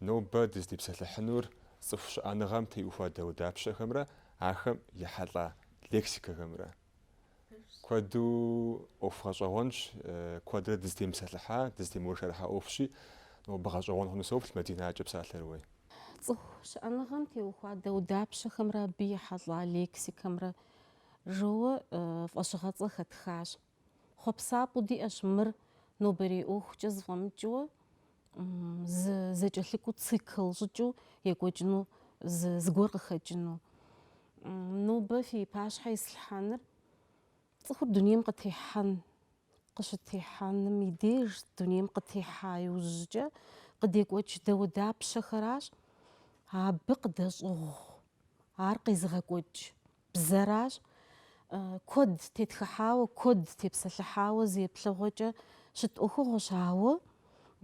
Нобэ дызытепсэлъыхьынур цӏыху щыӏэныгъэм теухуа дауэдапщэхэмрэ ахэм ехьэлӏа лексикэхэмрэ. Куэду ӏуэху гъэщӏэгъуэнщ, куэдрэ дызытемыпсэлъыхьа, дызытемыуэршэрыхьа ӏуэхущи, нобэ гъэщӏэгъуэн хъуну соплъ Мадина, кӏэ, псалъэр ууей. Цӏыху щыӏэныгъэм теухуа дауэдапщэхэмрэ абы ехьэлӏа лексикэмрэ жиӏэу фӏэщыгъэцӏэ хэтхащ. Хъуэпсапӏэу диӏэщ мыр нобэрей ӏуэхукӏэ зэфӏэмыкӏыуэ зы зэкӏэлъыкӏуэу цикл щӏыкӏэу екӏуэкӏыну зыгуэр къыхэкӏыну. Нобэ фи пащхьэ ислъхьэныр цӏыхур дунейм къытехьэн, къыщытехьэным и деж дунейм къытехьа иужькӏэ къыдекӏуэкӏ дауэдапщэхэращ абы къыдэщӏыгъу Ар къезыгъэкӏуэкӏ бзэращ. Куэд тетхыхьауэ, куэд тепсэлъыхьауэ зи еплъыгъуэкӏэ щыт ӏуэхугъуэщ, ауэ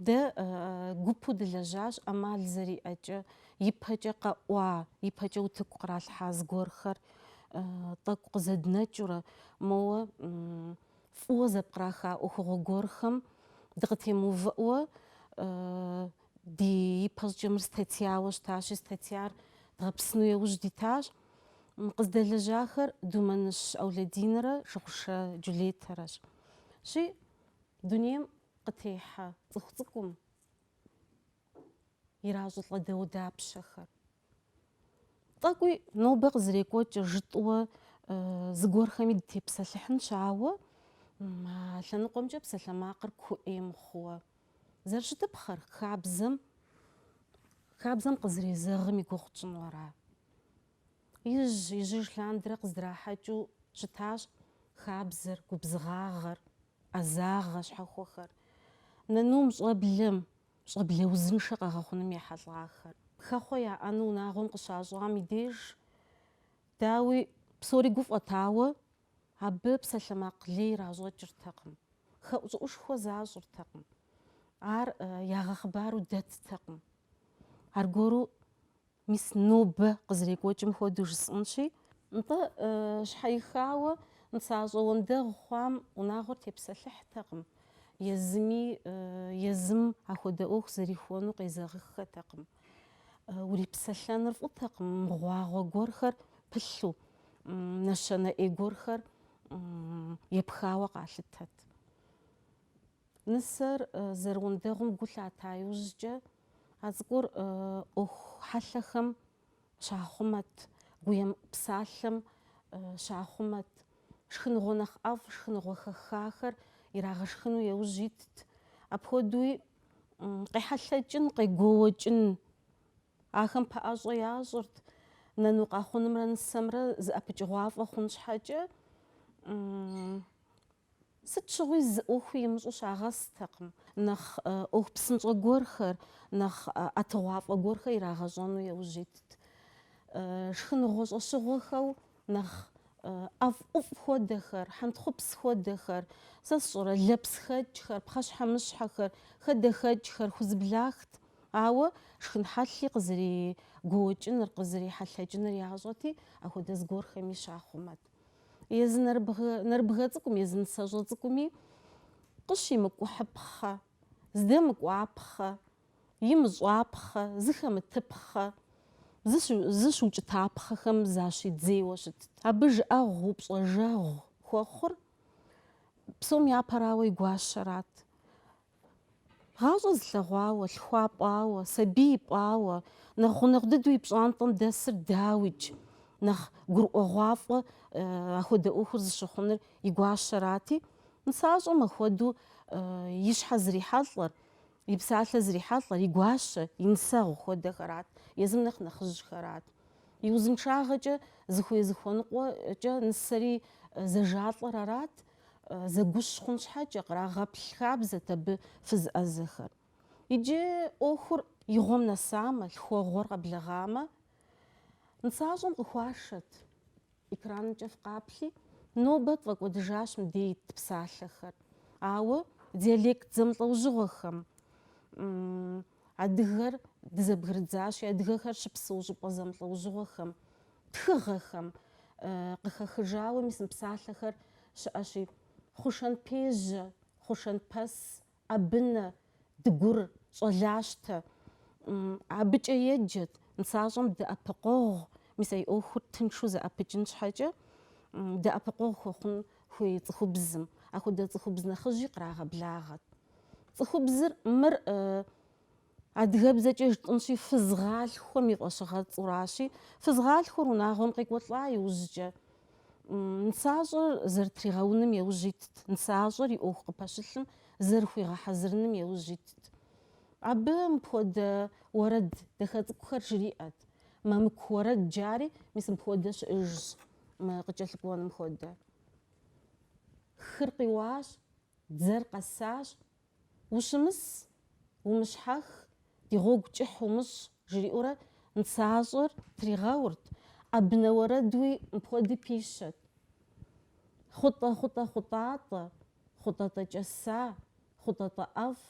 дэ гупу дылэжьащ ӏэмал зэриӏэкӏэ, ипэкӏэ къэӏуа, ипэкӏэ утыку къралъхьа зыгуэрхэр тӏэкӏу къызэднэкӏыурэ, моуэ фӏыуэ зэпкъраха ӏуэхугъуэ гуэрхэм дыкъытемыувыӏуэ, Дэ ипэщӏыкӏэ мыр статьяуэ щытащи, статьяр дгъэпсыну яужь дитащ. Къыздэлэжьахэр Думэныщ Аулэдинрэ Шыгъушэ Джулетэрэщ. Щи, дунейм къытехьэ цӏыху цӏыкӏум иращӏылӏэ дауэдапщэхэр. Тӏэкӏуи нобэ къызэрекӏуэкӏыр жытӏуэ э, зыгуэрхэми дытепсэлъыхьынщ, ауэ а лъэныкъуэмкӏэ псалъэмакъыр куу ӏей мыхъууэ. Зэрыщытыпхъэр хабзэм хабзэм къызэрезэгъым и гугъу тщӏыну ара? Ижь, ижьыж лъандэрэ къыздрахьэкӏыу щытащ хабзэр, губзыгъагъэр, ӏэзагъэ щхьэхуэхэр. Нанум, щӏэблэм, щӏэблэ узыншэ къэгъэхъуным ехьэлӏахэр. Хэхъуэ яӏэну унагъуэм къыщащӏам и деж, дауи, псори гуфӏэт, ауэ, абы псалъэмакъ лей иращӏэкӏыртэкъым, хэӏущӏыӏушхуэ защӏыртэкъым, ар ягъэхъыбару дэттэкъым. Аргуэру Мис нобэ къызэрекӏуэкӏым хуэдэу жысӏэнщи. Нтӏэ, щхьэихауэ нысащӏэ уэндэгъу хъуам унагъуэр тепсэлъыхьтэкъым, езыми езым ахуэдэ ӏуэху зэрихуэну къезэгъыххэтэкъым. Урипсэлъэныр фӏытэкъым мыгъуагъуэ гуэрхэр пылъу, нэщэнэ ӏей гуэрхэр епхауэ къалъытэт. Нысэр зэрыуэндэгъум гу лъата иужькӏэ, а цӏыкӏур ӏуэху хьэлъэхэм щахъумэт, гуемыӏу псалъэм щахъумэт. Шхыныгъуэ нэхъ ӏэфӏ, шхыныгъуэ хэхахэр ирагъэшхыну еужь итт. Апхуэдэуи къехьэлъэкӏын, къегуоуэкӏын ахэм пэӏэщӏэ ящӏырт. Нэну къахъунымрэ нысэмрэ зыӏэпыкӏыгъуафӏэ хъун щхьэкӏэ, Сыт щыгъуи зы ӏуэхуи имыщӏу щагъэстэкъым, нэхъ ӏуэху псынщӏэ гуэрхэр, нэхъ ӏэтыгъуафӏэ гуэрхэр ирагъэщӏэну яужь итт. Шхыныгъуэ щӏэщыгъуэхэу нэхъ ӏэфӏ ӏуфӏ хуэдэхэр, хьэнтхъупс хуэдэхэр, сэ сщӏэрэ, лэпсхэкӏхэр, пхъэщхьэмыщхьэхэр, хадэхэкӏхэр хузэблахт. Ауэ шхын хьэлъи къызэригуоуэкӏыныр, къызэрихьэлъэкӏыныр ящӏэти, апхуэдэ зыгуэрхэми щахъумэт. Езы нэрыбгэ, нэрыбгэ цӏыкӏум, езы нысэщӏэ цӏыкӏуми къыщимыкӏухьыпхъэ, здэмыкӏуапхъэ, имыщӏапхъэ, зыхэмытыпхъэ, зыщыукӏытапхъэхэм защидзейуэ щытт. Абы жыӏэгъу, упщӏэжэгъу хуэхъур псом япэрауэ и гуащэрат. Гъащӏэ зылъэгъуауэ, лъхуа пӏауэ, сабий пӏауэ, нэхъ гъунэгъу дыдэу и пщӏантӏэм дэсыр дауикӏ нэхъ гурыӏуэгъуафӏэ э, ахуэдэ ӏуэхур зыщыхъуныр и гуащэрати, нысащӏэм ахуэдэу э, и щхьэ зрихьэлӏэр, и псалъэ зрихьэлӏэр, и гуащэ, и нысэгъу хуэдэхэрат, езым нэхъ нэхъыжьхэрат. И узыншагъэкӏэ зыхуей-зыхуэныкъуэкӏэ нысэри э, зэжалӏэр арат, Зэгущ хъун щхьэкӏэ, кърагъэплъ хабзэт абы фыз ӏэзэхэр. Иджы ӏуэхур игъуэм нэсамэ, лъхуэгъуэр къэблэгъамэ, нысащӏэм къыхуашэт. Экранымкӏэ фыкъаплъи, нобэ тфӏэкӏуэдыжащ мыдей ит псалъэхэр. Ауэ диалект зэмылӏэужьыгъуэхэм, Адыгэр дызэбгрыдзащи, адыгэхэр щыпсэу щӏыпӏэ зэмылӏэужьыгъуэхэм, тхыгъэхэм къыхэхыжауэ мис мы псалъэхэр щыӏэщи, Хъушэнпежьэ, Хъушэнпэс, ӏэбынэ, дыгур, щӏалащтэ. Абыкӏэ еджэт, нысащӏэм дэӏэпыкъуэгъу, мис а и ӏуэхур тыншу зэӏэпыкӏын щхьэкӏэ, дэӏэпыкъуэгъу хуэхъун хуей цӏыхубзым. Апхуэдэ цӏыхубз нэхъыжьи кърагъэблагъэт. Цӏыхубзыр мыр адыгэбзэкӏэ жытӏынщи, фызгъалъхуэм и фӏэщыгъэцӏуращи, фызгъалъхуэр унагъуэм къекӏуэлӏа иужькӏэ, нысащӏэр зэрытригъэуным еужь итт, нысащӏэр и ӏуэху къыпэщылъым зэрыхуигъэхьэзырыным еужь итт. Абы мыпхуэдэ уэрэд дахэ цӏыкӏухэр жриӏэт. Мамыку уэрэд жари мис мыпхуэдэ щыӏыжщ, мы къыкӏэлъыкӏуэным хуэдэ. Хыр къиуащ. Дзэр къэсащ, Ущымыс, умыщхьэх, ди гъуэгу кӏыхь умыщӏ, жриӏэурэ нысащӏэр тригъэурт, ӏэбнэ уэрэдуи мыпхуэдэ пищэт. Хъутӏэ-хъутӏэ-хъутӏатӏэ, хъутӏэтӏэкӏэса, хъутӏэтӏэӏэфӏ,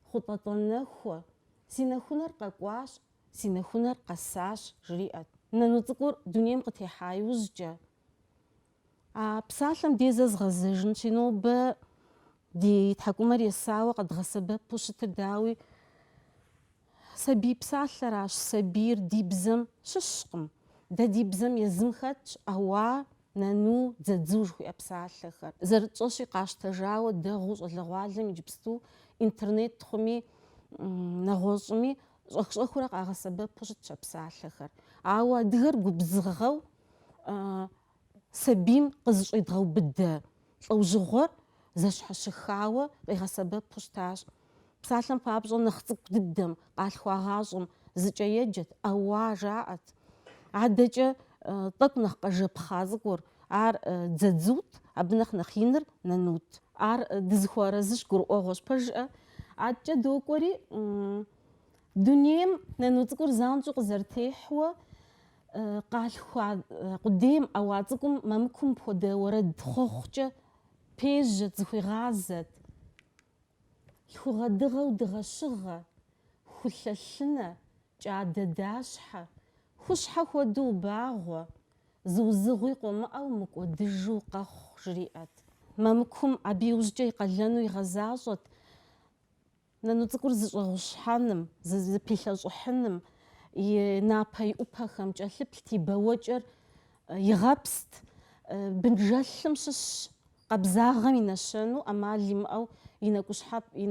хъутӏэтӏэнэхуэ, си нэхунэр къэкӏуащ, си нэхунэр къэсащ, жриӏэт. Нану цӏыкӏур дунейм къытехьа иужькӏэ. А псалъэм де зэ згъэзэжынщи, нобэ ди тхьэкӏумэр есауэ къэдгъэсэбэпу щытыр дауи, сабий псалъэращ. Сабийр ди бзэм щыщкъым. Дэ ди бзэм езым хэтщ ӏэуа, нэну, дзэдзу жыхуиӏэ псалъэхэр. Зэрытщӏэщи, къащтэжауэ дэгъуу щӏалэгъуалэм иджыпсту интернет хъуми, нэгъуэщӏми щӏэх-щӏэхыурэ къагъэсэбэпу щытщ а псалъэхэр. Ауэ адыгэр губзыгъэу сабийм къызыщӏедгъэубыдэ лӏэужьыгъуэр зэщхьэщыхауэ къигъэсэбэпу щытащ. Псалъэм папщӏэ, нэхъ цӏыкӏу дыдэм, къалъхуагъащӏэм, зыкӏэ еджэт, ӏэуа жаӏэт. Адэкӏэ тӏэкӏу нэхъ къэжэпхъа цӏыкӏур, ар дзэдзут, абы нэхъ нэхъ иныр нанут. Ар дызыхуэарэзыщ гурыӏуэгъуэщ. Пэ жыӏэ? Адэкӏэ докӏуэри, дунейм нану цӏыкӏур занщӏэу къызэрытехьуэ, Къалъхуа къудейм ӏэуа цӏыкӏум мамыкум мыпхуэдэ уэрэд хъуэхъукӏэ пежьэт, зыхуигъазэт. Лъхугъэ дыгъэу дыгъэщыгъэ, хулъэ лъынэ, кӏадэ дащхьэ, хущхьэ хуэдэу убагъуэ, зы узыгъуи къомыӏэу мыкӏуэдыжу къэхъу, жриӏэт. Мамыкум абы иужькӏэ и къалэну игъэзащӏэт. Нану цӏыкӏур зыщӏэгъущхьэным, зыпилъэщӏыхьыным и напэ и ӏупэхэм кӏэлъыплът, и бэуэкӏэр игъэпст. Бынжэлъым щыщ къабзагъэм и нэщэну ӏэмал имыӏэу и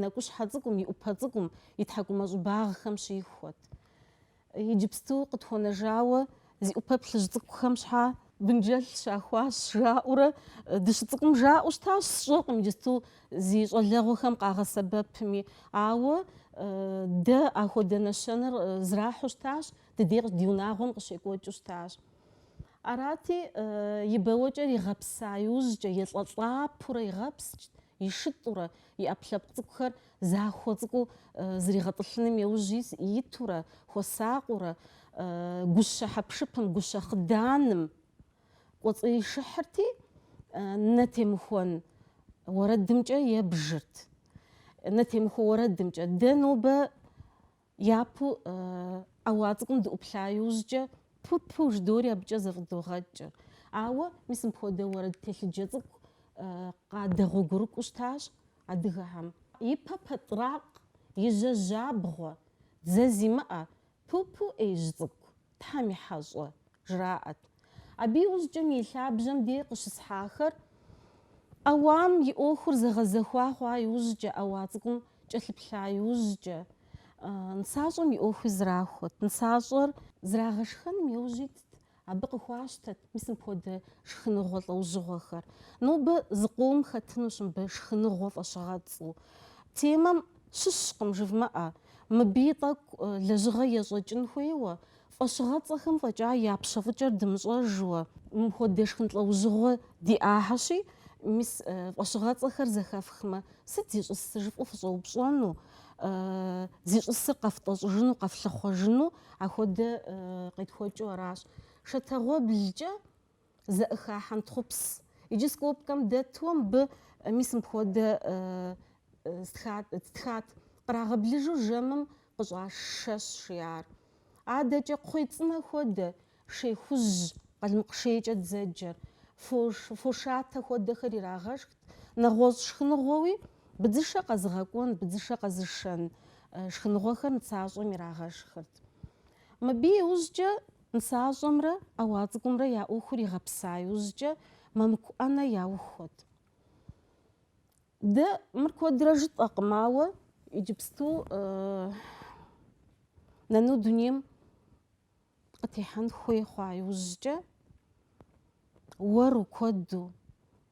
нэкӏущхьэ цӏыкӏум, и ӏупэ цӏыкӏум, и тхьэкӏумэ щӏыбагъхэм щихуэт. Иджыпсту къытхуэнэжауэ зи ӏупэ плъыжь цӏыкӏухэм щхьа бынджэль щахуащ жаӏэурэ дыщыцӏыкӏум жаӏэу щытащ, сщӏэкъым иджысту зи щӏалэгъуэхэм къагъэсэбэпми. Ауэ дэ ахуэдэ нэщэнэр зрахьу щытащ, ди дей къыщ, ди унагъуэм къыщекӏуэкӏыу щытащ. Арати, и бэуэкӏэр игъэпса иужькӏэ, елӏэлӏапэурэ игъэпскӏт, ишытӏурэ и ӏэпкълъэпкъ цӏыкӏухэр Захуэ цӏыкӏуу зригъэтӏылъыным иужь итурэ, хуэсакъыурэ, гущэ хьэпшыпым, гущэ хъыданым кӏуэцӏишыхьырти, нэ темыхуэн уэрэдымкӏэ ебжырт. Нэ темыхуэ уэрэдымкӏэ. Дэ нобэ Япэу ӏэуа цӏыкӏум дыӏуплъа иужькӏэ пу-пу жыдори абыкӏэ зэфӏыдогъэкӏ. Ауэ мис мыпхуэдэ уэрэд телъыджэ цӏыкӏу къадэгъуэгурыкӏуэу щытащ адыгэхэм. И пэ пэтӏракъ, и жьэ жьабгъуэ, дзэ зимыӏэ, пу-пу ӏеижь цӏыкӏу. Тхьэм и хьэщӏэ, жраӏэт. Абы иужькӏэ мы и лъабжьэм де къыщысхьахэр ӏэуам и ӏуэхур зэгъэзэхуа хъуа иужькӏэ, ӏэуа цӏыкӏум кӏэлъыплъа иужькӏэ, нысащӏэм и ӏуэхуи зрахуэт. Нысащӏэр зрагъэшхэным иужь итт, абы къыхуащтэт мис мыпхуэдэ шхыныгъуэ лӏэужьыгъуэхэр. Нобэ зыкъом хэтынущ мыбы шхыныгъуэ фӏэщыгъэцӏу темэм Щыщкъым, жывмыӏэ, мыбыи тӏэкӏу лэжьыгъэ ещӏэкӏын хуейуэ, фӏэщыгъэцӏэхэм фӏэкӏа я пщэфӏыкӏэр дымыщӏэжуэ. Мыпхуэдэ шхын лӏэужьыгъуэ диӏахьэщи, мис, фӏэщыгъэцӏэхэр зэхэфхмэ, сыт зищӏысыр жыфӏэу фыщӏэупщӏэну, зищӏысыр къэфтӏэщӏыжыну, къэфлъыхъуэжыну, ахуэдэ къетхуэкӏыу аращ. Шэтэгъуэблкӏэ. зэӏыха хьэнтхъупс. Иджы скобкэм дэту мыбы мис мыпхуэдэ стхат, кърагъэблыжу жэмым къыщӏаш шэщ, жиӏар. Адэкӏэ кхъуей цӏынэ хуэдэ, шей хужь, къалмыкъ шейкӏэ дзэджэр, фошатэ хуэдэхэр ирагъэшхт, нэгъуэщӏ шхыныгъуэуи, быдзышэ къэзыгъэкӏуэн, быдзышэ къэзышэн шхыныгъуэхэр нысащӏэм ирагъэшхырт. Мыбы иужькӏэ. Нысащӏэмрэ ӏэуа цӏыкӏумрэ я ӏуэхур игъэпса иужькӏэ мамыку ӏэнэ яухуэт. Дэ мыр куэдрэ жытӏэкъым, ауэ иджыпсту нэну дунейм къытехьэн хуей хъуа иужькӏэ уэру куэду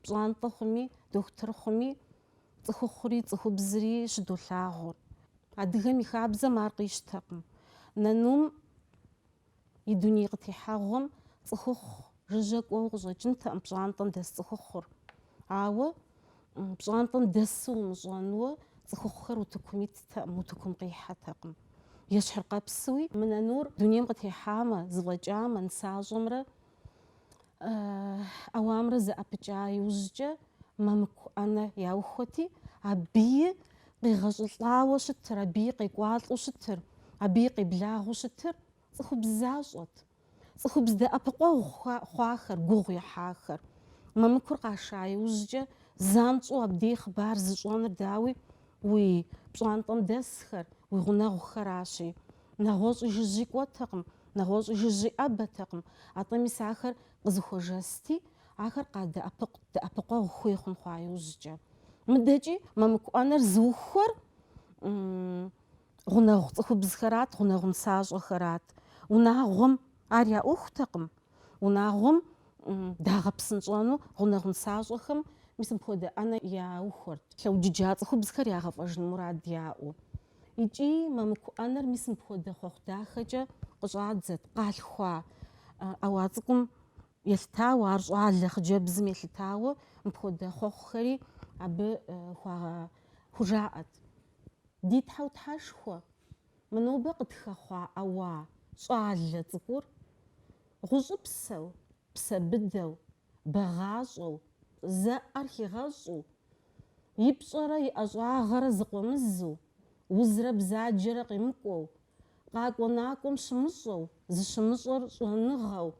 пщӏантӏэ хъуми, дохутыр хъуми, цӏыхухъури, цӏыхубзри щыдолъагъур. Адыгэм и хабзэм ар къищтэкъым. Нэнум и дуней къытехьэгъуэм цӏыхухъу жыжьэ кӏуэуэ къыщӏэкӏынтэкъым пщӏантӏэм дэс цӏыхухъур. Ауэ пщӏантӏэм дэсу умыщӏэнуэ цӏыхухъухэр утыкум иттэкъым, утыкум къихьэтэкъым. Ещхьыркъэпсуи мы нэнур дунейм къытехьамэ, зыфӏэкӏамэ, нысащӏэмрэ ӏэуамрэ зэӏэпыкӏа иужькӏэ мамыку ӏэнэ яухуэти, абыи къегъэщӏылӏауэ щытыр, абыи къекӏуалӏэу щытыр, абыи къеблагъэу щытыр цӏыхубз защӏэт. Цӏыхубз дэӏэпыкъуэгъу хъуахэр, гугъу ехьахэр. Мамыкур къаша иужькӏэ занщӏэу абдей хъыбар зыщӏэныр дауи уи пщӏантӏэм дэсхэр, уи гъунэгъухэращи. Нэгъуэщӏи жыжьи кӏуэтэкъым, нэгъуэщӏи жыжьи ӏэбэтэкъым, атӏэ мис ахэр къызыхуэжэсти, ахэр къадэӏэпыкъут дэӏэпыкъуэгъу хуей хъун хъуа иужькӏэ. Мыдэкӏи мамыку ӏэнэр зыухуэр гъунэгъу цӏыхубзхэрат, гъунэгъу нысащӏэхэрат. Унагъуэм ар я ӏуэхутэкъым, унагъуэм дагъэпсынщӏэну гъунэгъу нысащӏэхэм мис мыпхуэдэ ӏэнэ яухуэрт, лъэуджыджа цӏыхубзхэр ягъэфӏэжын мурад яӏэу. Икӏи мамыку ӏэнэр мис мыпхуэдэ хъуэхъу дахэкӏэ къыщӏадзэт, къалъхуа ӏэуа цӏыкӏум елъытауэ, ар щӏалэ хъыджэбзым елъытауэ мыпхуэдэ хъуэхъухэри абы хуа хужаӏэт. Ди Тхьэу Тхьэшхуэ, мы нобэ къытхэхъуа ӏэуа щӏалэ цӏыкӏур гъущӏыпсэу, псэ быдэу, бэгъащӏэу, зэӏэр хигъэщӏу, и пщӏэрэ и ӏэщӏагъэрэ зыкъуэмызу, узрэ бзаджэрэ къимыкӏуэу, къакӏуэ-накӏуэм щымыщӏэу, зыщымыщӏэр щӏэныгъэу,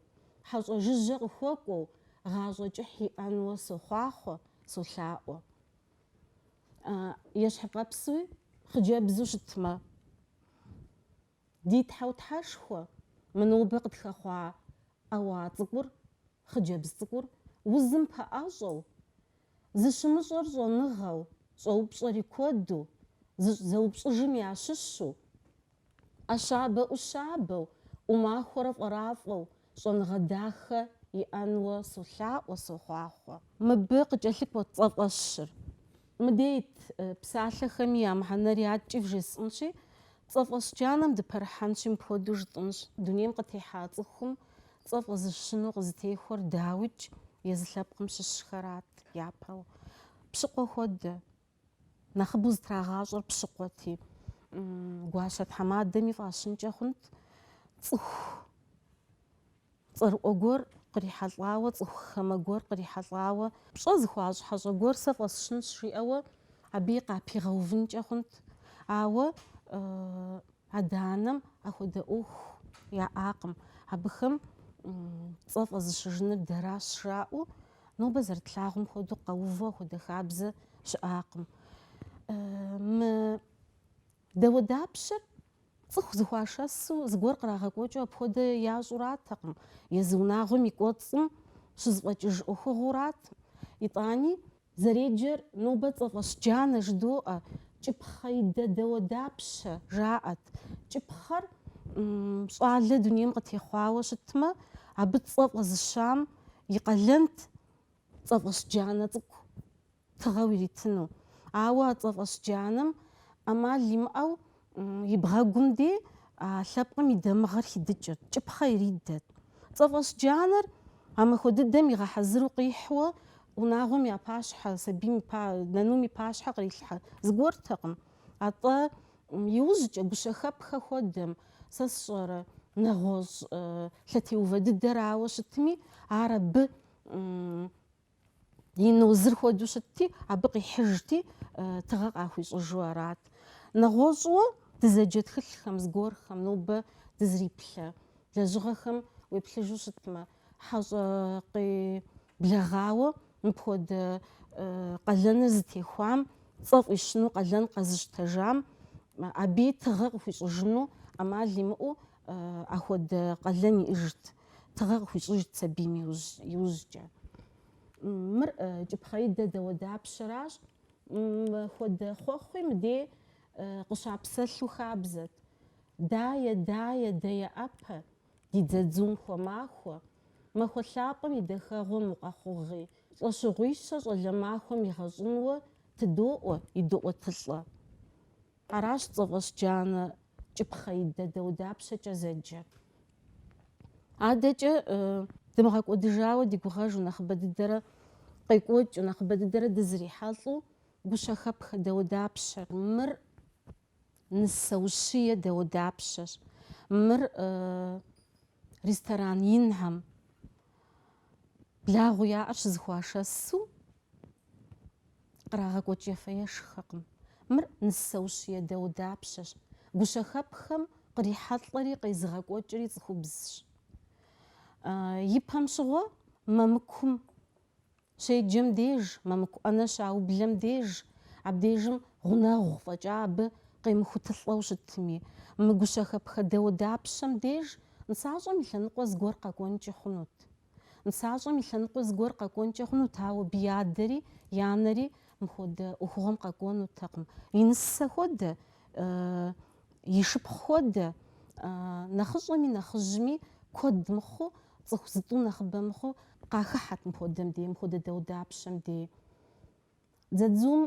хьэщӏэ жыжьэ къыхуэкӏуэу гъащӏэ кӏыхь иӏэнуэ сохъуахъуэ, солъаӏуэ. Ещхьыркъэпсуи хъыджэбзу щытмэ. Ди Тхьэу Тхьэшхуэ, мы нобэ къытхэхъуа ӏэуа цӏыкӏур, хъыджэбз цӏыкӏур, узым пэӏэщӏэу, зыщымыщӏэр щӏэныгъэу, щӏэупщӏэри куэду, зэупщӏыжым ящыщу, ӏэщабэ ӏущабэу, ӏумахуэрэ фӏэрафӏэу, щӏэныгъэ дахэ иӏэнуэ солъаӏуэ, сохъуахъуэ. Мыбы къыкӏэлъыкӏуэт цӏэфӏэщыр. Мыдей ит псалъэхэми я мыхьэнэри адэкӏи вжесӏэнщи, цӏэфӏэщ джанэм дыпэрыхьэнщи, мыпхуэдэу жытӏэнщ, дунейм къытехьа цӏыхум цӏэ фӏэзыщыну къызытехуэр дауикӏ езы лъэпкъым щыщхэрат япэу. Пщыкъуэ хуэдэ, Нэхъыбэу зытрагъащӏэр пщыкъуэти, гуащэ тхьэмадэми фӏащынкӏэ хъунт цӏыху цӏэрыӏуэ гуэр кърихьэлӏауэ, цӏыху хамэ гуэр кърихьэлӏауэ. Пщӏэ зыхуащӏ хьэщӏэ гуэр сэ фӏэсщынщ, жиӏэуэ абыи къапигъэувынкӏэ хъунт. Ауэ адэ-анэм ахуэдэ ӏуэху яӏакъым, абыхэм цӏэ фӏэзыщыжыныр дэращ жаӏэу, Нобэ зэрытлъагъум хуэдэу къэувэу ахуэдэ хабзэ щыӏакъым. Мы дауэдапщэр цӏыху зыхуашэсу зыгуэр кърагъэкӏуэкӏыу апхуэдэ ящӏуратэкъым, езы унагъуэм и кӏуэцӏым щызэфӏэкӏыж ӏуэхугъуэрат. Итӏани. Зэреджэр нобэ цӏэфӏэщ джанэ жыдоӏэ, кӏыпхъэидэ дауэдапщэ, жаӏэт. Кӏыпхъэр щӏалэ дунейм къытехъуауэ щытмэ, абы цӏэ фӏэзыщам и къалэнт цӏэфӏэщ джанэ цӏыкӏу тыгъэу иритыну. Ауэ а цӏэфӏэщ джанэм ӏэмал имыӏэу и бгъэгум де а лъэпкъым и дамыгъэр хидыкӏырт, кӏыпхъэ иридэт. Цӏэфӏэщ джанэр а махуэ дыдэм игъэхьэзыру къихьуэ унагъуэм я пащхьэ, сабийм и па, нанум и пащхьэ кърилъхьэ зыгуэртэкъым. Атӏэ Иужькӏэ, гущэхэпхэ хуэдэм, сэ сщӏэрэ, нэгъуэщӏ лъэтеувэ дыдэрауэ щытми, ар абы и нозыр хуэдэу щытти, абы къихьыжти, тыгъэ къахуищӏыжу арат. Нэгъуэщӏуэ дызэджэ тхылъхэм, зыгуэрхэм нобэ дызриплъэ лэжьыгъэхэм уеплъыжу щытмэ, Хьэщӏэ къеблэгъауэ мыпхуэдэ къалэныр зытехуам, цӏэ фӏищыну къалэн къэзыщтэжам, абы тыгъэ къыхуищӏыжыну ӏэмал имыӏэу ахуэдэ къалэн иӏэжт, тыгъэ къыхуищӏыжт сабийм иужькӏэ. Мыр кӏыпхъеидэ дауэдапщэращ, мыпхуэдэ хъуэхъуи мыдей къыщапсэлъу хабзэт. Дае, дае, деяӏэпэ, Ди дзадзум хуэмахуэ. Махуэ лъапӏэм и дахэгъуэм укъэхъугъи, лӏэщыгъуищэ щӏалэ махуэм игъэщӏынуэ тыдоӏуэ идоӏуэтылӏэ. Аращ цӏэфӏэщ джанэ кӏыпхъеидэ дауэдапщэкӏэ зэджэр. Адэкӏэ дымыгъэкӏуэдыжауэ ди гугъэжу нэхъыбэ дыдэрэ къекӏуэкӏыу, нэхъыбэ дыдэрэ дызрихьэлӏэу гущэхэпхэ дауэдапщэ. Мыр. Нысэ ущие дауэдапщэщ. Мыр ресторан инхэм благъэу яӏэр щызэхуашэсу кърагъэкӏуэкӏ ефэ-ешхэкъым. Мыр нысэ ущие дауэдапщэщ. Гущэхэпхэм кърихьэлӏэри къезыгъэкӏуэкӏри цӏыхубзщ. Ипэм щыгъуэ мамыкум Щеджэм деж, мамыку ӏэнэ щаублэм деж, абдежым гъунэгъу фӏэкӏа абы къемыхутылӏэу щытми, мы гущэхэпхэ дауэдапщэм деж нысащӏэм и лъэныкъуэ зыгуэр къэкӏуэнкӏи хъунут. Нысащӏэм и лъэныкъуэ зыгуэр къэкӏуэнкӏэ хъунут, ауэ абы и адэри и анэри мыхуэдэ ӏуэхугъуэм къэкӏуэнутэкъым. И нысэ хуэдэ, и шыпхъу хуэдэ, нэхъыщӏэми нэхъыжьми куэд мыхъуу, Цӏыху зытӏу нэхъыбэ мыхъуу къахыхьэт мыпхуэдэм дей, мыпхуэдэ дауэдапщэм дей. Дзадзум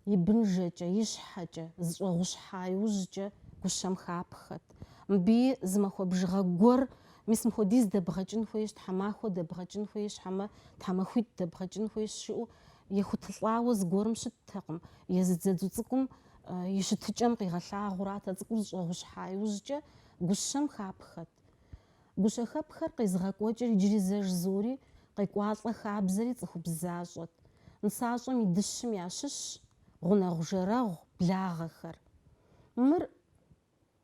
и бынжэкӏэ, и щхьэкӏэ, зэщӏэгъущхьа иужькӏэ гущэм хапхэт. Мыбыи зы махуэ бжыгъэ гуэр, мис мыхуэдиз дэбгъэкӏын хуейщ, тхьэмахуэ дэбгъэкӏын хуейщ, хьэмэ тхьэмахуитӏ дэбгъэкӏын хуейщ жиӏэу ехутылӏауэ зыгуэрым щыттэкъым. Езы дзадзу цӏыкӏум и щытыкӏэм къигъэлъагъуэрат а цӏыкӏур зэщӏэгъущхьа иужькӏэ гущэм хапхэт. Гущэхэпхэр къезыгъэкӏуэкӏыр иджыри зэ жызоӏэри, къекӏуалӏэ хабзэри цӏыхубз защӏэт. Нысащӏэм и дыщым ящыщщ гъунэгъу-жэрэгъу благъэхэр. Мыр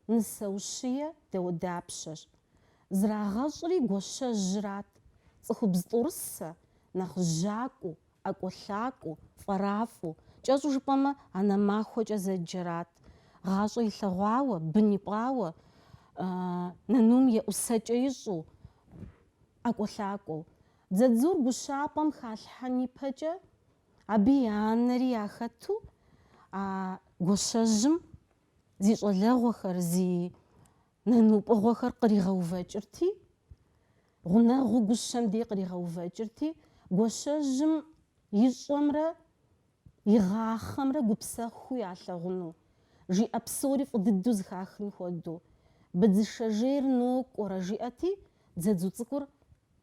нысэ ущие дауэдапщэщ. Зрагъэщӏри Гуащэжьрат, цӏыхубз тӏурысэ, нэхъ жьакӏуэу, ӏэкӏуэлъакӏуэу, фӏэрафӏэу, кӏэщӏу жыпӏэмэ, анэ махуэкӏэ зэджэрат. Гъащӏэ илъэгъуауэ, бын ипӏауэ, нанум еӏусэкӏэ ищӏу, ӏэкӏуэлъакӏуэу. Дзадзур гущапӏэм халъхьэн ипэкӏэ, абы и анэри яхэту, а Гуащэжьым зи щӏалэгъуэхэр, зи Нанупӏыгъуэхэр къригъэувэкӏырти, гъунэгъуу гущэм дей къригъэувэкӏырти, Гуащэжьым ищӏэмрэ игъахъэмрэ гупсэхуу ялъэгъуну, жиӏэ псори фӏы дыдэу зыхахын хуэдэу, Быдзышэжейр нокӏуэрэ, жиӏэти, дзадзу цӏыкӏур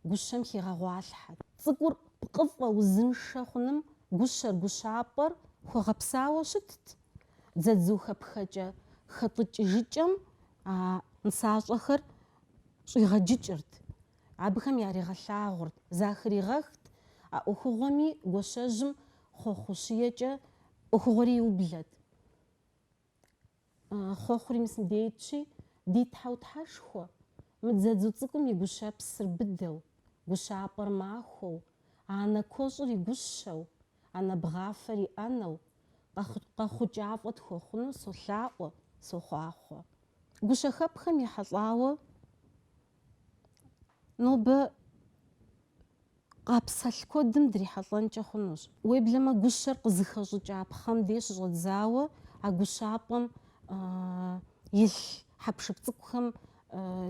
Гущэм хигъэгъуалъхьэт. Цӏыкӏур пкъыфӏэ узыншэ хъуным гущэр, гущапӏэр хуэгъэпсауэ щытт. Дзадзухэпхэкӏэ хэтӏыкӏыжыкӏэм а нысащӏэхэр щӏигъэджыкӏырт, абыхэм яригъэлъагъурт, захыригъэхт, а ӏуэхугъуэми Гуащэжьым хъуэхъущиекӏэ ӏуэхугъуэри иублэт. Хъуэхъури мис мыбдейтщи, ди Тхьэу Тхьэшхуэ, мы дзадзу цӏыкӏум и гущэпсыр быдэу, гущапӏэр махуэу, анэ куэщӏыр и гущэу, анэ бгъафэр и ӏэнэу, къэхъукӏафӏэ тхуэхъуну солъаӏуэ, сохъуахъуэ. Гущэхэпхэм ехьэлӏауэ. Нобэ къапсэлъ куэдым дрихьэлӏэнкӏэ хъунущ. Уеблэмэ гущэр къызыхэщӏыкӏа пхъэм деж щыщӏэдзауэ а гущапӏэм илъ хьэпшып цӏыкӏухэм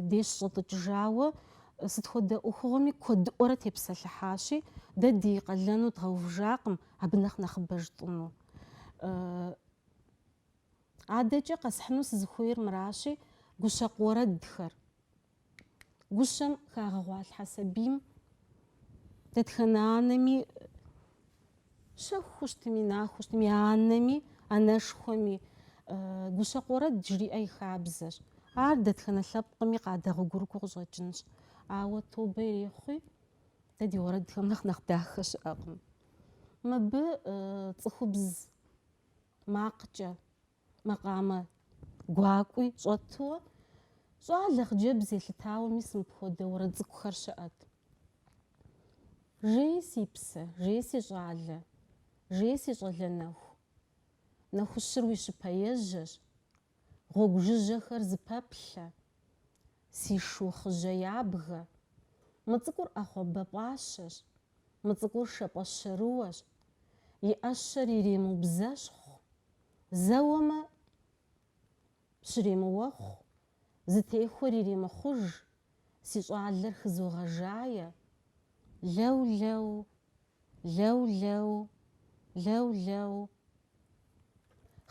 деж щыщӏэтӏыкӏыжауэ сыт хуэдэ ӏуэхугъуэми куэдыӏуэрэ тепсэлъыхьащи, дэ ди къалэну дгъэувыжакъым абы нэхъ нэхъыбэ жытӏыну. Адэкӏэ къэсхьыну сызыхуейр мыращи, гущэкъу уэрэдхэр. Гущэм хагъэгъуалъхьэ сабийм дэтхэнэ анэми щэхуу щытми, нахуэу щытми, анэми, анэшхуэми гущэкъу уэрэд жриӏэ и хабзэщ. Ар дэтхэнэ лъэпкъми къадэгъуэгурыкӏуэу къыщӏэкӏынщ. Ауэ тобэ ирехъуи, дэ ди уэрэдхэм нэхъ нэхъ дахэ щыӏэкъым. Мыбы цӏыхубз макъкӏэ макъамэ гуакӏуи щӏэтуэ, щӏалэ хъыджэбз елъытауэ мис мыпхуэдэ уэрэд цӏыкӏухэр щыӏэт. Жей си псэ, жей си щӏалэ, жей си щӏалэ нэху. Нэхущыр уи щыпэ ежьэщ, Гъуэгу жыжьэхэр зыпэплъэ, Си шу хъыжьэ ябгэ. Мы цӏыкӏур ӏэхъуамбэ пӏащэщ, Мы цӏыкӏур шэпӏэ щэрыуэщ, И ӏэщэр иремыубзэщхъу, Зэуэмэ, щремыуэхъу, Зытехуэр иремыхъуж, Си щӏалэр хызогъэжае. Лэу-лэу, лэу-лэу, лэу-лэу.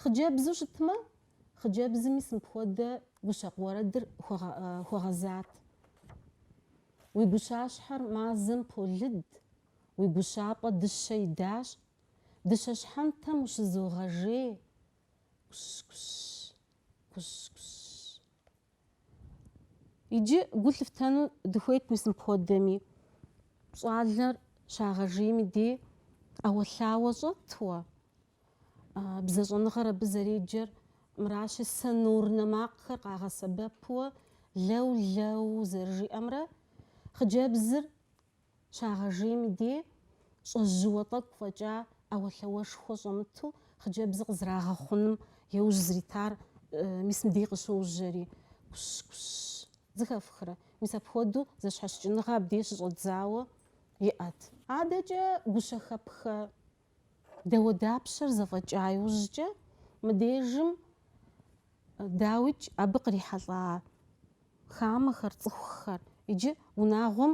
Хъыджэбзу щытмэ, хъыджэбзым мис мыпхуэдэ гущэкъу уэрэдыр хуэгъэзат. Уи гущащхьэр мазэм полыд, уи гущапӏэ дыщэ идащ, дыщэ щхьэнтэм ущызогъэжей. Кущ-кущ, кущ-кущ. Иджы гу лъыфтэну дыхуейт мис мыпхуэдэми. Щӏалэр щагъэжейм и дей ӏэуэлъауэ щӏэтуэ. Бзэщӏэныгъэр абы зэреджэр мыращи, сонорнэ макъхэр къагъэсэбэпуэ лэу-лэу зэрыжиӏэмрэ, хъыджэбзыр Щагъэжейм и дей, щӏэжьыуэ тӏэкӏу фӏэкӏа ӏэуэлъауэшхуэ щӏэмыту хъыджэбзыр къызрагъэхъуным еужь зритар мис мыбдей къыщожьэри, кущ, кущ зыхэфхрэ. Мис апхуэдэу зэщхьэщыкӏыныгъэ абдей щыщӏэдзауэ иӏэт. Адэкӏэ гущэхэпхэ Дауэдапщэр зэфӏэкӏа иужькӏэ мыбдежым дауикӏ абы кърихьэлӏа хамэхэр, цӏыхухэр иджы унагъуэм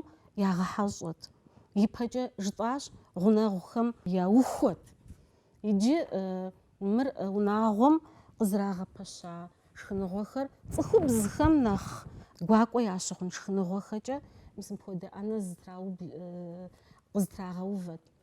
ягъэхьэщӏэт. Ипэкӏэ жытӏащ гъунэгъухэм яухуэт. Иджы мыр унагъуэм къызрагъэпэща шхыныгъуэхэр цӏыхубзхэм нэхъ гуакӏуэ ящыхъун шхыныгъуэхэкӏэ мис мыпхуэдэ ӏэнэ къызэтрагъэувэт.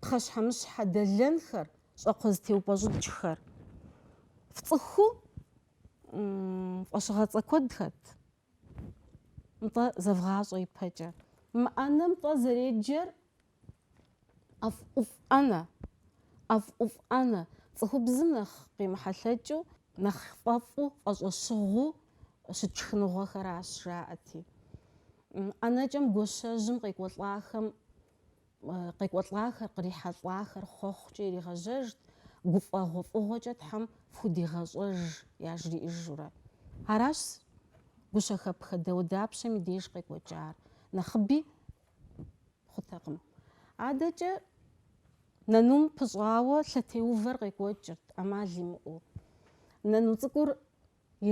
пхъэщхьэмыщхьэ дэлэнхэр, щӏакхъуэ зэтеупӏэщӏыкӏхэр. Фцӏыхуу фӏэщыгъэцӏэ куэд хэт. Нтӏэ зэвгъащӏэ ипэкӏэ. Мы ӏэнэм тӏэ зэреджэр ӏэфӏ ӏуфӏ ӏэнэ. ӏэфӏ ӏуфӏ ӏэнэ. Цӏыхубзым нэхъ къемыхьэлъэкӏыу, нэхъ фӏэфӏу, фӏэщӏэщыгъуу щыт шхыныгъуэхэращ, жаӏэти. ӏэнэкӏэм гуащэжьым къекӏуэлӏахэм къекӏуэлӏахэр, кърихьэлӏахэр хъуэхъукӏэ иригъэжьэжт, гуфӏэгъуэфӏыгъуэкӏэ Тхьэм фхудигъэщӏэж, яжриӏэжурэ. Аращ гущэхэпхэ дауэдапщэм и деж къекӏуэкӏар, нэхъыби хъутэкъым. Адэкӏэ нэнум пыщӏауэ лъэтеувэр къекӏуэкӏырт ӏэмал имыӏэу. Нэну цӏыкӏур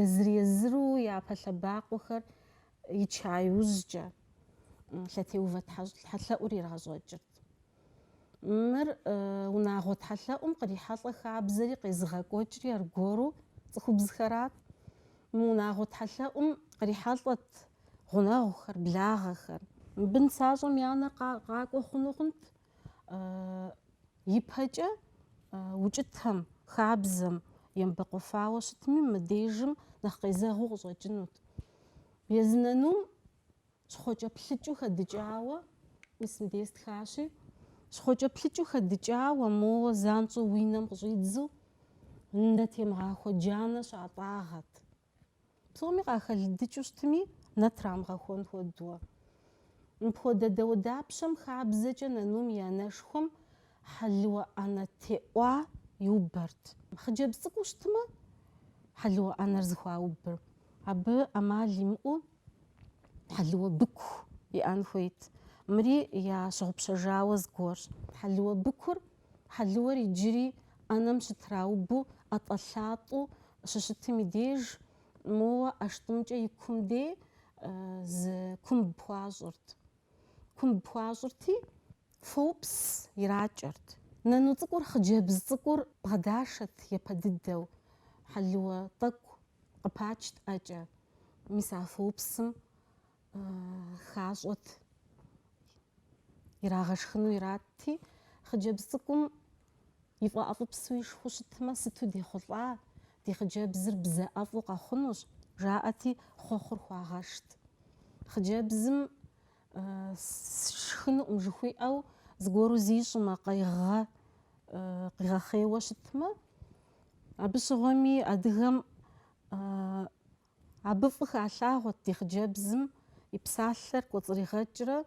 Езыр-езыру япэ лъэбакъуэхэр ича иужькӏэ лъэтеувэ тхьэлъэӏур ирагъэщӏэкӏырт. Мыр унагъуэ тхьэлъэӏум кърихьэлӏэ хабзэри къезыгъэкӏуэкӏри аргуэру цӏыхубзхэрат. Мы унагъуэ тхьэлъэӏум кърихьэлӏэт гъунэгъухэр, благъэхэр. Мыбы нысащӏэм и анэр къакӏуэ хъуну хъунт Ипэкӏэ укӏытэм, хабзэм емыбэкъуэфауэ щытми, мыбдежым нэхъ къезэгъыу къыщӏэкӏынут. Езы нэнум щхъуэкӏэплъыкӏыу хэдыкӏауэ, мис мыбдеж стхащи, щхъуэкӏэплъыкӏыу хэдыкӏауэ, моуэ занщӏэу уи нэм къыщӏидзу, нэ темыгъахуэ джанэ щатӏагъэт. Псоми къахэлыдыкӏыу щытми, нэ трамыгъэхуэн хуэдуэ. Мыпхуэдэ дауэдапщэм хабзэкӏэ нанум и анэшхуэм хьэлыуэ ӏэнэ теӏуа иубэрт. Хъыджэбз цӏыкӏуу щытмэ, хьэлыуэ ӏэнэр зыхуаубэр. Абы ӏэмал имыӏэу хьэлыуэ быку иӏэн хуейт. Мыри ящыгъупщэжауэ зыгуэрщ. Хьэлыуэ быкур Хьэлыуэр иджыри ӏэнэм щытраубу ӏэтӏэлъатӏэу щыщытым и деж, моуэ ӏэштӏымкӏэ и кум де зы кумб хуащӏырт. Кумб хуащӏырти, фоупс иракӏэрт. Нэну цӏыкӏур, хъыджэбз цӏыкӏур бгъэдашэт япэ дыдэу, хьэлыуэ тӏэкӏу къыпачт ӏэкӏэ. Мис а фоупсым хащӏэт, ирагъэшхыну иратти, хъыджэбз цӏыкӏум ифӏэӏэфӏыпсу ишхыу щытмэ, сыту дехъулӏа, ди хъыджэбзыр бзэ ӏэфӏу къэхъунущ, жаӏэти, хъуэхъур хуагъэшт. Хъыджэбзым сшхынукъым жыхуиӏэу зыгуэру зищӏмэ, къигъэ, къигъэхъейуэ щытмэ, абы щыгъуэми адыгэм Абы фӏы халъагъуэрт ди хъыджэбзым и псалъэр кӏуэцӏригъэкӏрэ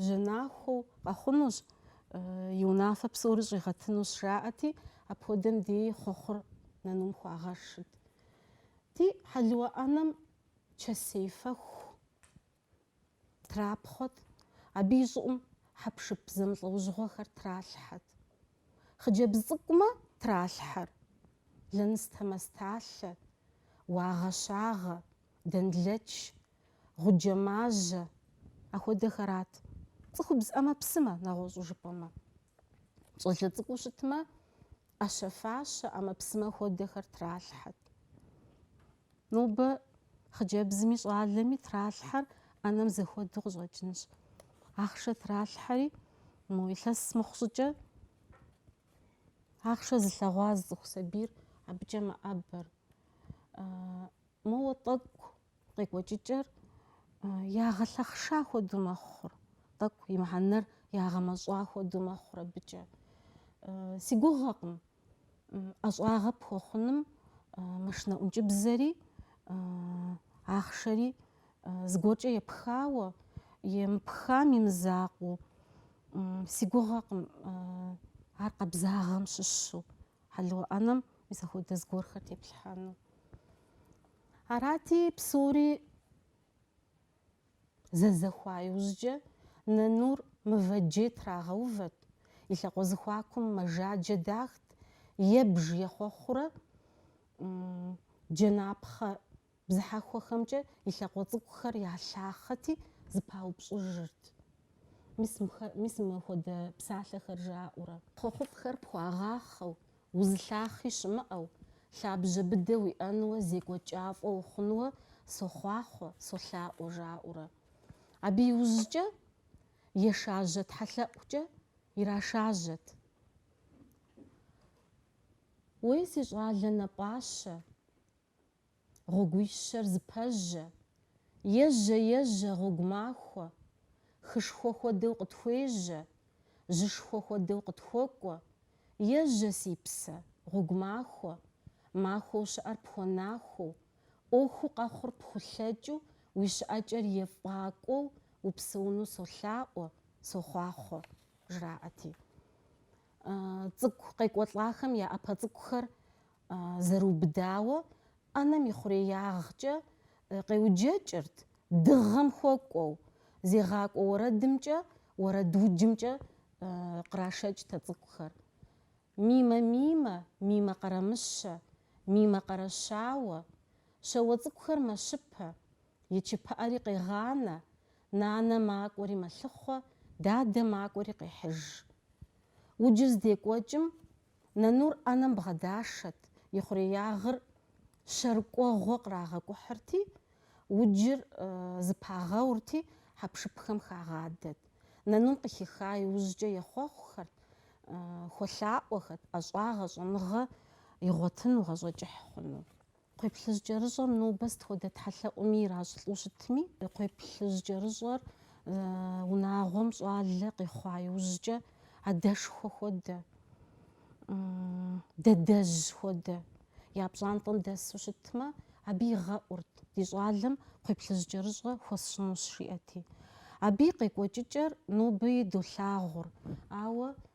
жьэнахуэу къэхъунущ, и унафэ псори щӏигъэтынущ жаӏэти, апхуэдэм деи хъуэхъур нанум хуагъэшырт. Ди хьэлыуэ ӏэнэм чэсей фэху трапхъуэт, абы и щӏыӏум хьэпшып зэмылӏэужьыгъуэхэр тралъхьэт. Хъыджэбз цӏыкӏумэ тралъхьэр лэныстэ, мэсталъэ, уагъэ-щагъэ, дэнлэч, гъуджэ, мажьэ, ахуэдэхэрат. Цӏыхубз ӏэмэпсымэ, нэгъуэщӏу жыпӏэмэ. Щӏалэ цӏыкӏуу щытмэ, ӏэщэ-фащэ, ӏэмэпсымэ хуэдэхэр тралъхьэт. Нобэ хъыджэбзми щӏалэми тралъхьэр ӏэнэм зэхуэдэу къыщӏэкӏынщ. Ахъшэ тралъхьэри, мо илъэс мыхъу щӏыкӏэ ахъшэ зылъэгъуа зы цӏыху сабийр абыкӏэ мэӏэбэр. Моуэ тӏэкӏу къекӏуэкӏыкӏэр ягъэлъэхъша хуэдэу мэхъур, тӏэкӏу и мыхьэнэр ягъэмэщӏа хуэдэу мэхъур абыкӏэ. Си гугъэкъым ӏэщӏагъэ пхуэхъуным машинэ ӏункӏыбзэри, ахъшэри зыгуэркӏэ епхауэ, емыпхам и мызакъуэу. Си гугъэкъым ар къабзагъэм щыщу. хьэлыуэ ӏэнэм мис ахуэдэ зыгуэрхэр теплъхьэну. Арати, псори зэзэхуа иужькӏэ нанур мывэджей трагъэувэт, и лъакъуэ зэхуакум мэжаджэ дахт, ебж ехъуэхъурэ джэнапхъэ бзыхьэхуэхэмкӏэ и лъакъуэ цӏыкӏухэр ялъахъэти, зыпаупщӏыжырт. Мис мыхэр, мис мыхуэдэ псалъэхэр жаӏэурэ. Хъуэхъуфӏхэр пхуагъахъэу, узылъахъи щымыӏэу, лъабжьэ быдэ уиӏэнуэ зекӏуэкӏафӏэ ухъунуэ сохъуахъуэ, солъаӏуэ жаӏэурэ. Абы иужькӏэ ешажьэ тхьэлъэӏукӏэ ирашажьэт. Уей, си щӏалэ напӏащэ, гъуэгуищэр зыпэжьэ, ежьэ-ежьэ гъуэгу махуэ, хышхуэ хуэдэу къытхуежьэ, жьышхуэ хуэдэу къытхуэкӏуэ, ежьэ си псэ, гъуэгу махуэ, махуэу щыӏэр пхуэнахуэу, ӏуэхуу къэхъур пхулъэкӏыу уи щыӏэкӏэр ефӏакӏуэу упсэуну солъаӏуэ, сохъуахъуэ, жраӏэти. Цӏыкӏу къекӏуэлӏахэм я ӏэпэ цӏыкӏухэр зэрыубыдауэ ӏэнэм и хъуреягъкӏэ къеуджэкӏырт, дыгъэм хуэкӏуэу, зегъакӏуэ уэрэдымкӏэ, уэрэдуджымкӏэ кърашэкӏтэ цӏыкӏухэр. Мимэ мимэ, мимэ къэрамыщэ, мимэ къэрэщауэ, щауэ цӏыкӏухэр мэщыпэ, и чыпыӏэри къегъанэ, нанэ макӏуэри мэлъыхъуэ, дадэ макӏуэри къехьыж. Уджыр здекӏуэкӏым нанур ӏэнэм бгъэдашэт, и хъуреягъыр щэрыкӏуэгъуэ кърагъэкӏухьырти, уджыр зыпагъэурти, хьэпшыпхэм хагъадэт. Нанум къыхиха иужькӏэ ехъуэхъухэрт, хуэлъаӏуэхэт, ӏэщӏагъэ, щӏэныгъэ игъуэтыну, гъащӏэ кӏыхь хъуну. Кхъуейплъыжь кӏэрыщӏэм нобэ сыт хуэдэ тхьэлъэӏуми иращӏылӏу щытми, кхъуейплъыжь кӏэрыщӏэр унагъуэм щӏалэ къихъуа иужькӏэ адэшхуэ хуэдэ, дадэжь хуэдэ я пщӏантӏэм дэсу щытмэ, абы игъэӏурт ди щӏалэм кхъуейплъыжь кӏэрыщӏэ хуэсщӏынущ жиӏэти. Абы и къекӏуэкӏыкӏэр ноби долъагъур, ауэ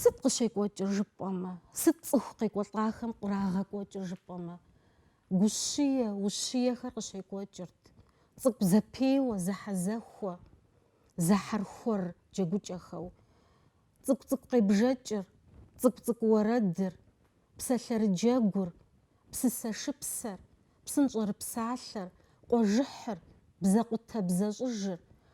Сыт къыщекӏуэкӏыр жыпӏэмэ, сыт цӏыху къекӏуэлӏахэм кърагъэкӏуэкӏыр жыпӏэмэ, гущие, ущиехэр къыщекӏуэкӏырт, цӏыкӏу зэпеуэ, зэхьэзэхуэ, зэхьэрхуэр джэгукӏэхэу, цӏыкӏу-цӏыкӏу къебжэкӏыр, цӏыкӏу-цӏыкӏу уэрэдыр, псалъэрыджэгур, псысэ шыпсэр, псынщӏэрыпсалъэр, къуэжыхьыр, бзэкъутэ бзэщӏыжыр,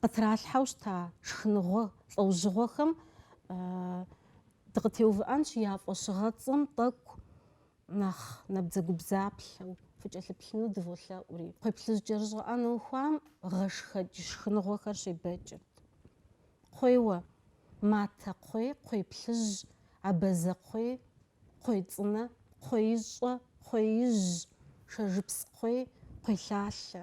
къытралъхьэу щыта шхыныгъуэ лӏэужьыгъуэхэм дыкъытеувыӏэнщ я фӏэщыгъэцӏэм тӏэкӏу нэхъ набдзэгубдзаплъэу фыкӏэлъыплъыну дыволъэӏури. Кхъуейплъыжь кӏэрыщӏэ ӏэнэ ухуам гъэшхэкӏ шхыныгъуэхэр щебэкӏырт. Кхъуейуэ, матэ кхъуей, кхъуейплъыжь, абазэ кхъуей, кхъуей цӏынэ, кхъуеищӏэ, кхъуеижь, шэжыпс кхъуей, кхъуейлъалъэ.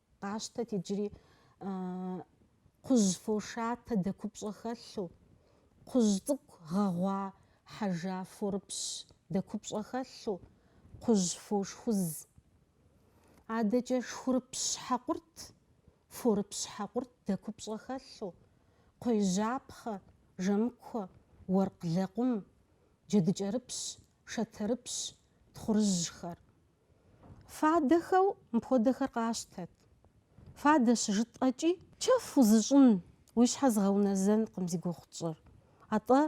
Къащтэт иджыри кхъужь фошатэ дэкупщӏэ хэлъу, кхъужь цӏыкӏу гъэгъуа хьэжа форыпщ дэкупщӏэ хэлъу, кхъужь фошхуз. Адэкӏэ шхурыпщ хьэкъурт, форыпщ хьэкъурт дэкупщӏэ хэлъу, кхъуейжьапхъэ, жэмыкуэ, уэркъ лэкъум, джэдыкӏэрыпщ, шатэрыпщ, тхъурыжьхэр. Фадэхэу мыпхуэдэхэр къащтэт. Фадэ щыжытӏэкӏи, чэф узыщӏын, уи щхьэ згъэунэзэнкъым зи гугъу тщӏыр. Атӏэ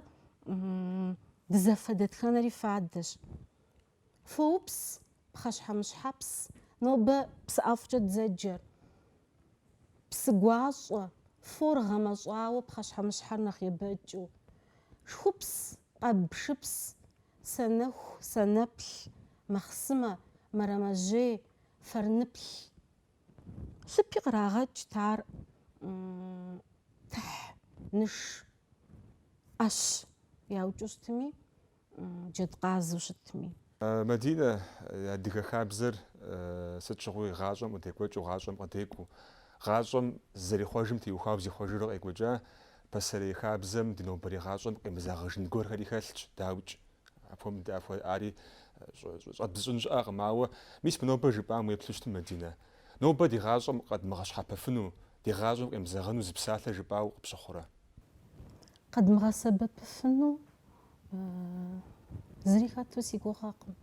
дызэфэ дэтхэнэри фадэщ. Фоупс, пхъэщхьэмыщхьэпс, нобэ псы ӏэфӏкӏэ дзэджэр. Псы гуащӏэ, фор гъэмэщӏауэ пхъэщхьэмыщхьэр нэхъ ебэкӏыу. Шхупс, къэбшыпс, Санэху, санэплъ, махъсымэ, мэрэмэжьей, фэрныплъ. Лъыпи кърагъэкӏт ар тыхь, ныш, ӏэщ яукӏыу щытми, джэдкъазэу щытми. Мадинэ, адыгэ хабзэр сыт щыгъуи гъащӏэм къыдекӏуэкӏыу, гъащӏэм къыдекӏуу, гъащӏэм зэрихъуэжым теухуауэ зихъуэжыурэ къекӏуэкӏа Пасэрей хабзэм ди нобэрей гъащӏэм къемызэгъыжын гуэрхэри хэлъщ, дауикӏ. Апхуэм дапхуэ ари щӏэдбзыщӏын щыӏэкъым, ауэ мис мы нобэ жыпӏам уеплъу щытым, Мадинэ. Нобэ ди гъащӏэм къэдмыгъэщхьэпэфыну, ди гъащӏэм къемызэгъыну зы псалъэ жыпӏауэ къыпщыхъурэ? Къэдмыгъэсэбэпыфыну зыри хэту си гугъэкъым.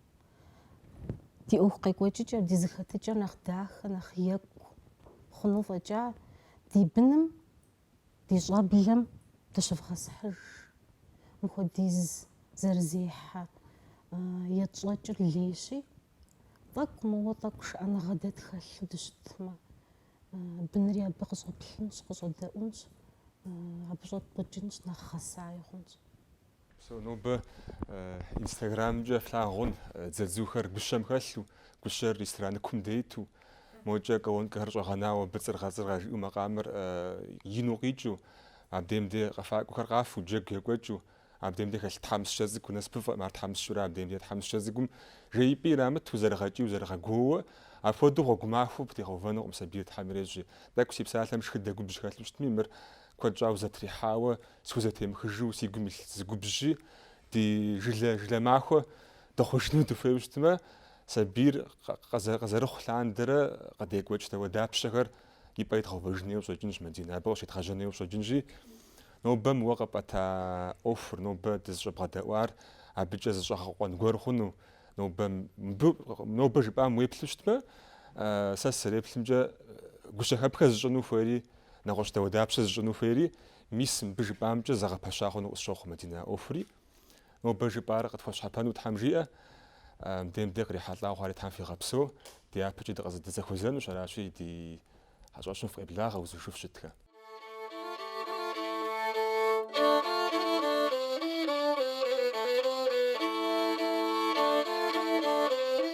Ди ӏуэху къекӏуэкӏыкӏэр, ди зыхэтыкӏэр нэхъ дахэ, нэхъ екӏу хъуну фӏэкӏа, ди быным Ди щӏэблэм дыщывгъэсхьыж. Мыхуэдиз зэрызехьэ етщӏэкӏыр лейщи, тӏэкӏу мыуэ тӏэкӏу шыӏэныгъэ дэ тхэлъу дыщытмэ, бынри абы къыщӏэплъынщ, къыщӏэдэӏунщ, абы щӏэтпӏыкӏынщ, нэхъ гъэсаи хъунщ. Псо нобэ инстаграмкӏэ флъагъун дзадзухэр гущэм хэлъу, гущэр ресторан кум дейту, мокӏэ колонкэхэр щӏэгъэнауэ быцӏыргъэцӏыргъэ жиӏэу макъамэр ину къикӏыу, абдем де къэфакӏуэхэр къафу, джэгу екӏуэкӏыу, абдем де хэлъ тхьэмыщкӏэ цӏыкӏу насыпыфӏэм, ар тхьэмыщкӏэурэ абдем де тхьэмыщкӏэ цӏыкӏум жеипӏи ирамыту, зэрыгъэкӏийуэ зэрыгъэгуоуэ, апхуэдэу гъуэгу махуэу пхутегъэувэнукъым сабийр Тхьэм ирещӏи. Тӏэкӏу си псалъэм шхыдэ губжь хэлъу щытми, мыр Куэд щӏауэ зэтрихьауэ, схузэтемыхыжу си гум илъ зы губжьщи, ди жылэ жылэ махуэ дыхъужыну дыхуейуэ щытмэ, сабийр къызэрыхъу лъандэрэ къыдекӏуэкӏ дауэдапщэхэр и пӏэ идгъэувэжын хуейуэ щӏэкӏынщ Мадинэ, абы къыщедгъэжьэн хуейуэ щӏэкӏынщи, нобэ мы уэ къэпӏэта ӏуэхур, нобэ дызыщӏэбгъэдэӏуар абыкӏэ зыщӏэгъэкъуэн гуэр хъуну, нобэ, мы нобэ жыпӏам уеплъу щытмэ, сэ сызэреплъымкӏэ гущэхэпхэ зыщӏыну хуейри, Нэгъуэщӏ дауэдапщэ зыщӏыну хуейри, мис мыбы жыпӏамкӏэ зэгъэпэща хъуну къысщохъу, Мадинэ, ӏуэхури. Нобэ жыпӏар къытхуэщхьэпэну Тхьэм жиӏэ, мыбдем де кърихьэлӏа хъуари Тхьэм фигъэпсэу, дяпэкӏи дыкъызэдызэхуэзэнущ, аращи ди хьэщӏэщым фыкъеблагъэ узыншэу фыщытхэ.